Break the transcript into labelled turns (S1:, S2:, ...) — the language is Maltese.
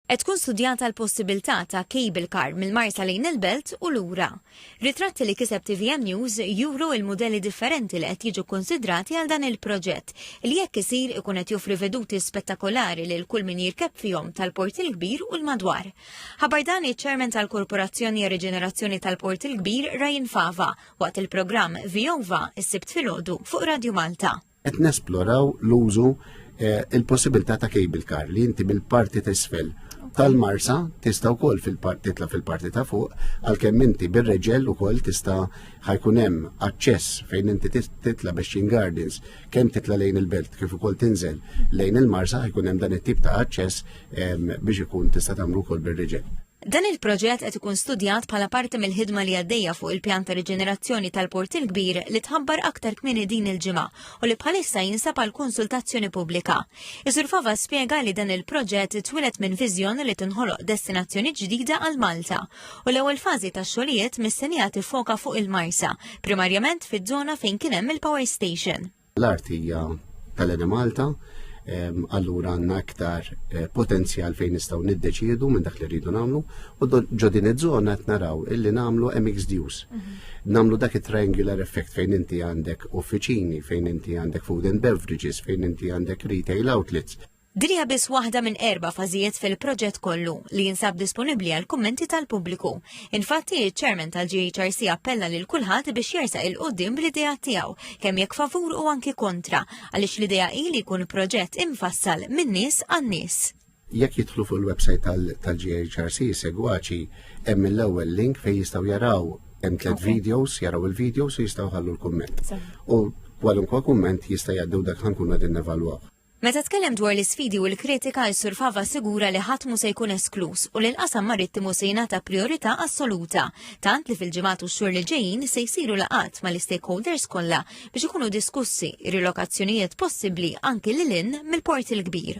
S1: Qed tkun studjata l-possibiltà ta' cable car mill-Marsa lejn il-Belt u lura. Ritratti li kiseb tvm News juru il-mudelli differenti li qed jiġu kkunsidrati għal dan il-proġett, li jekk isir ikun qed joffri veduti spettakolari lil kull min jirkeb fihom tal-Port il-Kbir u l-madwar. Ħabar dan iċ-Chairman tal-Korporazzjoni għar-Riġenerazzjoni tal-Port il-Kbir Ryan Fava waqt il-programm Viova s-Sibt filgħodu fuq Radio Malta. qed nesploraw
S2: l-użu eh, il-possibilità ta' cable car li inti mill-parti t'isfel tal-marsa tista' wkoll titla' fil-parti ta' fuq għalkemm inti bir-reġel ukoll tista' ħajkun hemm aċċess fejn inti titla' biex gardens kemm titla' lejn il-belt kif ukoll tinżel lejn il-marsa ħajkun hemm dan it-tip ta' aċċess biex ikun tista' tagħmlu wkoll bir-reġel. Dan il-proġett
S1: qed ikun studjat bħala parti mill-ħidma li għaddejja fuq il-pjan ta' riġenerazzjoni tal-Port il-Kbir li tħabbar aktar kmieni din il-ġimgħa u li bħalissa jinsab għal konsultazzjoni pubblika. Isur Fava spjega li dan il-proġett twilet minn viżjoni li tinħoloq destinazzjoni ġdida għal Malta u l-ewwel fażi tax-xogħlijiet mistennija tiffoka fuq il-Marsa, primarjament fiż-żona fejn kien hemm il-power station. L-art hija
S2: tal-Enemalta, allura għandna aktar eh, potenzjal fejn nistgħu niddeċiedu minn dak li rridu nagħmlu u ġo din iż-żona qed naraw illi nagħmlu mixed use. Mhm. Nagħmlu dak it-triangular effect fejn inti għandek uffiċini, fejn inti għandek food and beverages, fejn inti għandek retail outlets. Din hija biss waħda
S1: minn erba' fażijiet fil-proġett kollu li jinsab disponibbli għal kummenti tal-pubbliku. Infatti, iċ-Chairman tal-GHRC appella lil kulħadd biex jersaq il qudiem bl-idea tiegħu, kemm jekk favur u anki kontra, għaliex l-idea hi li jkun proġett imfassal min-nies għan-nies. Jekk jidħlu fuq
S2: il-website tal-GHRC segwaċi hemm l-ewwel link fejn jistgħu jaraw hemm tliet videos, jaraw il-videos u jistgħu ħallu l-kumment. U kwalunkwe kumment jista' jgħaddu dak ħankun qegħdin nevalwaw. Meta tkellem dwar
S1: l-isfidi u l-kritika, is-Sur Fava assigura li ħadd mhu se jkun eskluż u li l-qasam marittimu se jingħata prijorità assoluta, tant li fil-ġimgħat u x-xhur li ġejjin se jsiru laqgħat mal-istakeholders kollha biex ikunu diskussi r-rilokazzjonijiet possibbli anki lil hinn mill-Port il-Kbir.